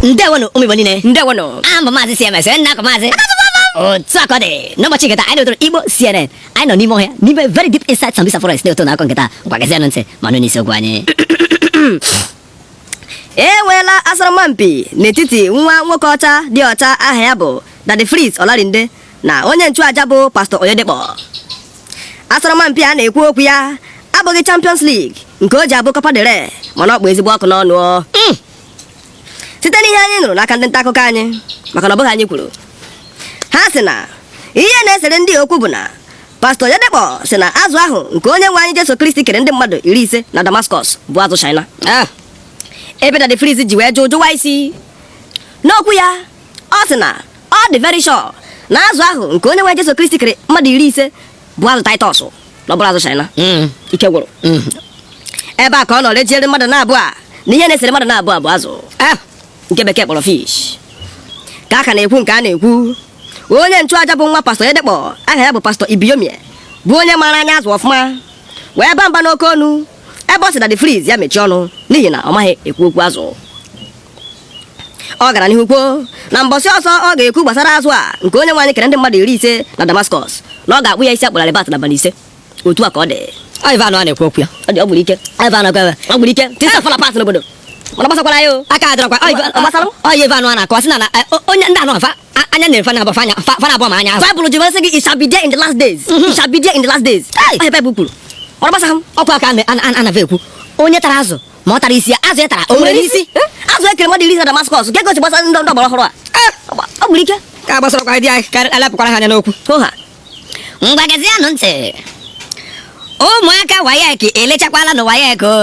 ndewonụ ụmụ igbo niile ndewonụ aha m bụ maazị cms onye a na-akpọ maazị otu a ka ọ dị n'ụbọchị nke taa anyị na-etoro igbo cnn anyị nọ n'ime ọhịa n'ime very deep inside sambisa forest na-eto na akụkọ nke taa ngwa gezianụ ntị ma nụ n'isi okwu anyị e nweela asọrọmpi n'etiti nwa nwoke ọcha dị ọcha aha ya bụ Daddy Freeze Olarinde na onye nchụaja bụ pastọ Oyedepo asọrọmpi a na-ekwu okwu ya abụghị Champions League nke o ji abụ Copa del Rey mana ọ kpụ ezigbo ọkụ n'ọnụ hmm. site n'ihe anyị nụrụ n'aka ndị nta akụkọ anyị maka na ọ bụghị anyị kwuru ha sị na ihe na-esere ndị a okwu bụ na pastọ Oyedepo sị na azụ ahụ nke onye nwe anyị Jesu Kristi kere ndị mmadụ iri ise na Damascus bụ azụ China ah. ebe Daddy Freeze ji wee jụ jụwa isi n'okwu ya ọ sị na ọ dị very sure na azụ ahụ nke onye nwe Jesu Kristi kere mmadụ iri ise bụ azụ Taịtọs na ọ bụrọ azụ China Mm, ike gwụrụ mm. ebe a ka ọ nọ rejiere mmadụ naabọ a na ihe na-esere mmadụ naabọ a bụ azụ Ah, nke bekee kpọrọ fish ka a ka na-ekwu nke a na-ekwu onye nchụaja bụ nwa pastọ Oyedepo aha ya bụ pastọ Ibiyeomie bụ onye maara anya azụ ọfụma wee ba mba n'oke ọnụ ebe ọ sị na Daddy Freeze ya mechie ọnụ n'ihi na ọ maghị ekwu okwu azụ ọ gara n'ihu kwuo na mbọsị ọzọ ọ ga-ekwu gbasara azụ a nke onye nwe anyị kere ndị mmadụ iri ise na Damascus na ọ ga-akpụ ya isi akpụrarị bat n'abalị ise otu a ka ọ dị Ivan a na-ekwu okwu ya ọ dị ọ gwụrụ ike Ivan ọ gwara ọ gwụrụ ike tisa fọla pas n'obodo mana gbasakwara ya o aka adịrọkwa ọyị Ivan a na-akọwa sị na na, eh, o- onye ndị anọ fa a- anya na-efe na abụfa anya fa- fa na-abụọ ma anya azụ Bible ji masị gị it shall be there in the last days it shall be there in the last days Hey! Ọ ihe Bible kwuru mana gbasa ha ọkwa aka a na- a na- a na-ava ekwu onye tara azụ ma ọ tara isi ya azụ ya tara o nwere n'isi azụ e kere mmadụ iri na Damascus ka egosi gbasara ndị ndị ọgbara ọhụrụ a Ah, ọ gwụrụ ike ka a gbasara kwa di anyị ka a lepụkwara ha anya n'okwu ọha ngwa gezianụ ntị ụmụaka WAEC elechakwala na WAEC o.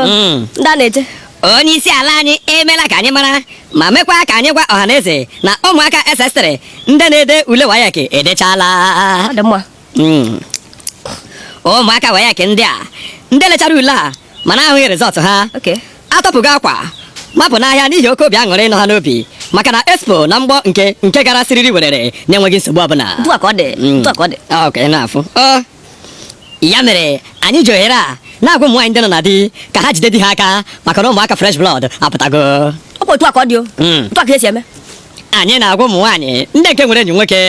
Mm. ndị a na-eche onye isi ala anyị emeela ka anyị mara ma mekwa ka anyị gwa ọhaneze na ụmụaka ss3 ndị na-ede ule WAEC edechala ọ dị mma Hmm. ụmụaka WAEC ndị a ndị lechara ule a mana ahụghị result ha atọpụgo akwa mapụ n'ahịa n'ihi oke obi aṅụrị nọ ha n'obi maka na expo na mgbọ nke nke gara siriri werere na-enweghị nsogbu ọbụla hmm. ah, ya mere anyị ji ohere a na-agwa ụmụ nwaanyị ndị nọ na di ka ha jide di ha aka maka na ụmụaka fresh blood apụtago ọ bụ otu a ka ọ dị o hmm. otu a ka e si eme anyị na-agwa ụmụ nwaanyị ndị nke nwere enyi nwoke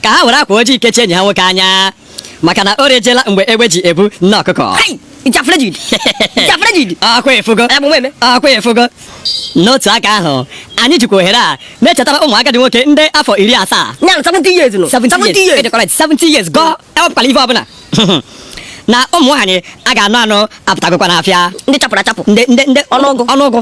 ka ha were akwa ojii kechie enyi ha nwoke anya maka na o rejela mgbe egbe ji ebu nne ọkụkọ akwa efugo akwa efugo n'otu aka ahụ anyị jikwa ohere a na-echetara ụmụ agadi nwoke ndị afọ iri asaa 70 years nọ. 70 years. E dey correct, 70 years gụọ ewepụtala ife ọbụla na ụmụ nwaanyị a ga-anụ anụ apụtagokwa n'afịa ndị chapụrụ achapụ ndị ndị ndị ọnụọgụ ọnụọgụ